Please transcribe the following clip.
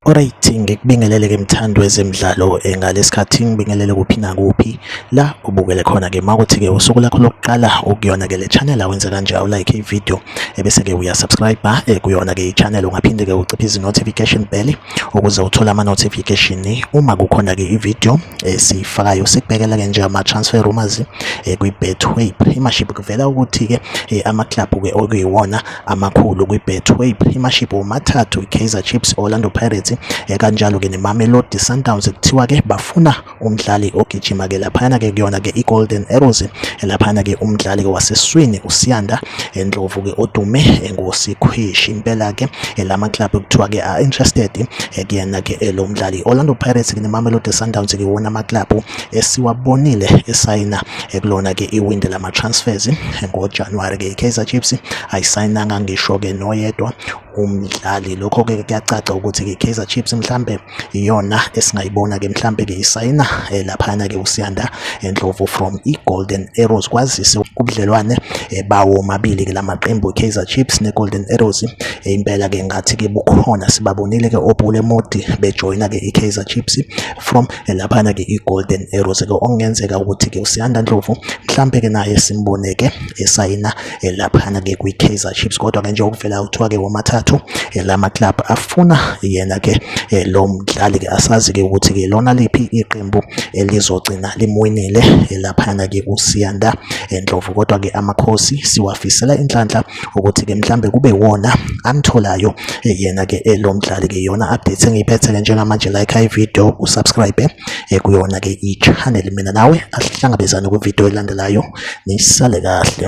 Alright ngikubingelele ke mthandi wezemidlalo eh, ngalesikhathi ngibingelele kuphi nakuphi la ubukele khona ke makuthi ke usuku lakho lokuqala ukuyona ke le channel awenze kanje awu like ivideo ebese ke uya subscribe eh, kuyona ke i channel ungaphinde ke uciphe izi notification bell ukuze uthole ama-notification uma kukhona-ke i-video esiyifakayo eh, sikubhekela-ke nje ama-transfer rumors eh, kwi-betway imaship kuvela ukuthi-ke eh, amaklabhu-ke okuyiwona amakhulu kwi-betway imaship womathathu i-kaizer chips orlando pirates kanjalo-ke nemamelodi sundowns kuthiwa-ke bafuna umdlali ogijima ke laphana ke kuyona ke iGolden Arrows laphana ke umdlali waseswini uSiyanda Ndlovu ke odume ngosikhwishi impela ke lama club kuthiwa ke are interested kuyena ke lo mdlali Orlando Pirates ke neMamelodi Sundowns ke wona ama club esiwabonile esayina kulona ke iwindi lama transfers ngoJanuary ke iKaizer Chiefs ayisayinanga ngisho ke noyedwa umdlali lokho ke kuyacaca ukuthi ke Kaizer Chiefs mhlambe iyona esingayibona ke mhlambe ke isayina eh, laphana ke uSiyanda Ndlovu from iGolden Arrows kwazise kubudlelwane eh, bawo mabili ke lamaqembu Kaizer Chiefs neGolden Arrows eh, impela ke ngathi ke bukhona sibabonile ke oBule Modi bejoyina ke iKaizer Chiefs from laphana ke iGolden Arrows ke okungenzeka ukuthi ke uSiyanda Ndlovu mhlambe ke naye simboneke esayina eh, laphana-ke kwi-kaizer chiefs kodwa-ke nje okuvela kuthiwa-ke womathathu eh, la maklab afuna yena-ke eh, lo mdlali-ke asazi-ke ukuthi-ke lona liphi iqembu elizogcina limwinile laphana-ke kusiyanda ndlovu kodwa-ke amakhosi siwafisela inhlanhla ukuthi-ke mhlambe kube wona amtholayo yena-ke lo mdlali-ke yona update engiyiphethe-ke njengamanje like ivideo usubscribe ekuyona-ke i-channel mina nawe asihlangabezane kwividiyo elandelayo nisale kahle